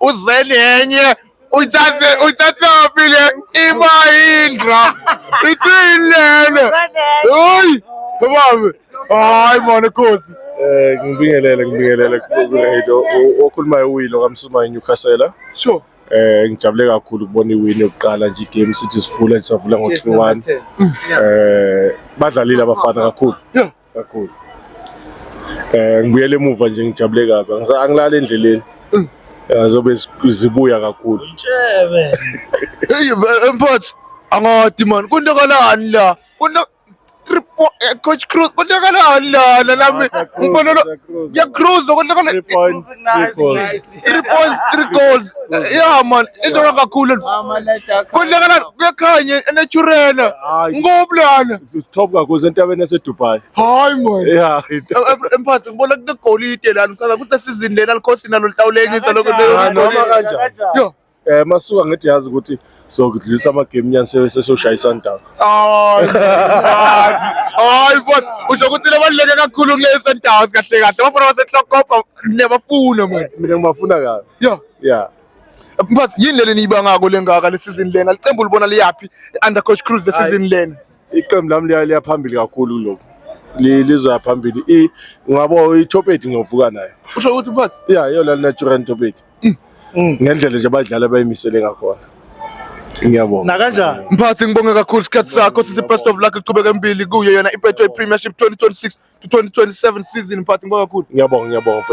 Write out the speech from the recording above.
uzeni enye uthathe uthathaphi le imayindra ithini lena hayi babe hayi mona khosi Eh ngibingelele ngibingelele kuRedo okhulumayo uWilo kaMsuma eNewcastle. Sure. Eh ngijabule kakhulu ukubona iwini yokuqala nje igame sithi sivula sisavula ngo-3-1. Eh badlalile abafana kakhulu. kakhulu eh ngibuyele emuva nje ngijabule kabi Angisa- angilali endleleni Eh, zobe zi- zibuya kakhulu Hey, eh, mfowethu angadi man kontakalani la konta triple eh, coach cruz kontakalani lana nami Asa Cruz, ngibonelo Asa Cruz. ngiyacruza kontakalani Three point, three goals. three points three goals ya man into kakhulu kulekelana kuyakhanye naturela ngoblana top kakhulu sentabeni yasedubai hayi man ya emphathi ngibona kunegolide lana uchaza ukuthi esizini lena likhosi nalo lihlawulekisa lokho noma kanjani Eh masuka ngithi yazi ukuthi sokudlisa ama game nyani sesoshaya iSundowns. Hayi. Hayi futhi usho ukuthi lebaluleke kakhulu kule Sundowns kahle kahle. Abafana baseTlokopa nebafuna manje. Mina ngibafuna kabi. Yeah. Yeah. Mfaz yini leli niyibangako lengaka le season lena? Licembu libona liyaphi under coach Cruz le season lena? Iqembu lami liya liya phambili kakhulu kuloko. Li- Lizoya phambili. I ngabo i-top 8 ngiyovuka nayo. Usho ukuthi mfaz Yeah, yona lina Turan top 8. mm. ngendlela nje abadlali abayimisele ngakhona ngiyabonga nakanjani mphathi ngibonge kakhulu isikhathi sakho sithi best of luck iqhubeke embili kuyo yona ibetway premiership 2026 to 2027 season mphathi ngibonga kakhulu ngiyabonga ngiyabonga